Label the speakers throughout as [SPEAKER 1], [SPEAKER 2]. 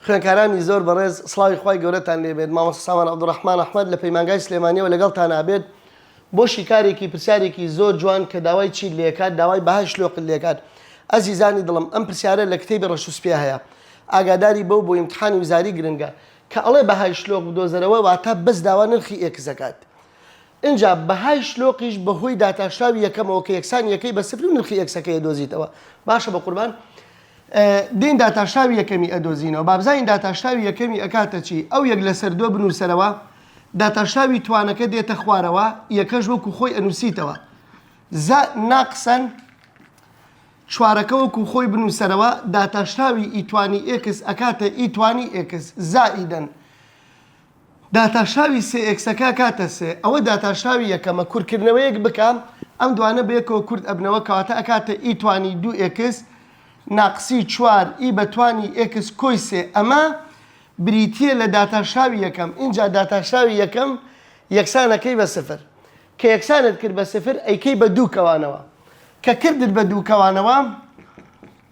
[SPEAKER 1] خوێنکارانی زۆر بەڕێز سڵاوی خوای گەورەتان لێ بێت مامۆستا سامان عبدالرحمن احمد لە پەیمانگای سلێمانیەوە لەگەڵتان ئابێت بۆ شیکارێکی پرسیارێکی زۆر جوان کە داوای چیت لێ کات داوای بەهای شلۆقت لێ کات ئەزیزانی دڵم ئەم پرسیارە لە کتێبی ڕەش و سپێ هەیە ئاگاداری بەو بۆ ئیمتحانی وزاری گرنگە کە ئەڵێ بەهای شلۆق بدۆزەرەوە واتە بەس داوا نرخی ئێکس ئەکات ئینجا بەهای شلۆقیش بە هۆی داتاشراوی یەکەمەوە کە یەکسانی یەکەی بە سفر و نرخی ئێکسەکەی ئەدۆزیتەوە. باشە بەقوربان دێین داتاشراوی یەکەمی ئەدۆزینەوە بابزانین داتاشراوی یەکەمی ئەکاتە چی؟ ئەو یەک لەسەر دوە بنوسەرەوە داتاشراوی توانەکە دێتە خوارەوە یەکەش وەکو خۆی ئەنوسیتەوە زە ناقسەن چوارەکە وەکو خۆی بنوسەرەوە داتاشراوی ئیتوانی ئێکس ئەکاتە ئیتوانی ئێکس زائیدەن داتاشاوی سێ ئێکسەکە کاتە سێ ئەوە داتاشاوی یەکەمە کورکردنەوەیەک بکە ئەم دوانە بەیەکەوە کورت ئەبنەوە کەواتە ئەکاتە ئی توانی دوو ئێکس ناقسی چوار ئی بە توانی ئێکس کۆی سێ ئەمە بریتیە لە داتاشاوی یەکەم ئینجا داتاشاوی یەکەم یەکسان ئەکەی بە سفر کە یەکسانت کرد بە سفر ئەیکەی بە دوو کەوانەوە کە کردت بە دوو کەوانەوە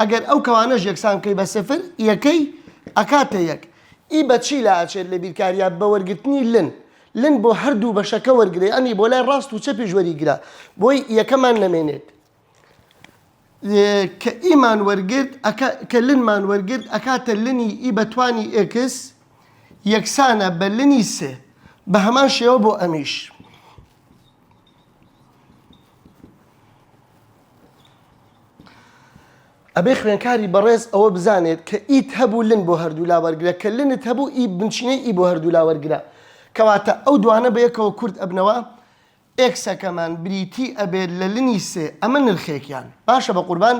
[SPEAKER 1] ئەگەر ئەو کەوانەش یەکسان بکەی بە سفر یەکەی ئەکاتە یەک ی بە چی لا ئەچێت لە بیرکاریا بە وەرگرتنی لن لن بۆ هەردوو بەشەکە وەرگرە یانی بۆ لای ڕاست و چەپیش وەریگرە بۆی یەکەمان نەمێنێت کە ئیمان وەرگرت ئەکا کە لنمان وەرگرت ئەکاتە لنی ی بە توانی ئێکس یەکسانە بە لنی سێ بە هەمان شێوە بۆ ئەمیش. ئەبێ خوێنکاری بەڕێز ئەوە بزانێت کە ئیت هەبوو لن بۆ هەردوولا وەرگرە کە لنت هەبوو ئی بنچینەی ئی بۆ هەردوولا وەرگرە کەواتە ئەو دوانە بەیەکەوە کورت ئەبنەوە ئێکسەکەمان بریتی ئەبێت لە لنی سێ ئەمە نرخێکیان باشە بەقوربان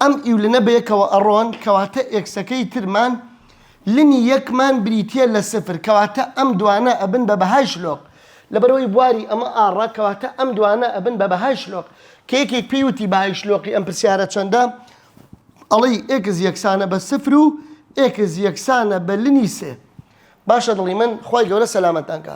[SPEAKER 1] ئەم ئی و لنە بەیەکەوە ئەڕۆن کەواتە ئێکسەکەی ترمان لنی یەک مان بریتیە لە سفر کەواتە ئەم دوانە ئەبن بە بەهای شلۆق لەبەرئەوەی بواری ئەمە ئاڕە کەواتە ئەم دوانە ئەبن بە بەهای شلۆق کە یەکێک پێی وتی بەهای شلۆقی ئەم پرسیارە چەندە ئەڵێی ئێکس یەکسانە بە سفر و ئێکس یەکسانە بە لنی سێ باشە دڵی من خوای گەورە سەلامەتتان کا.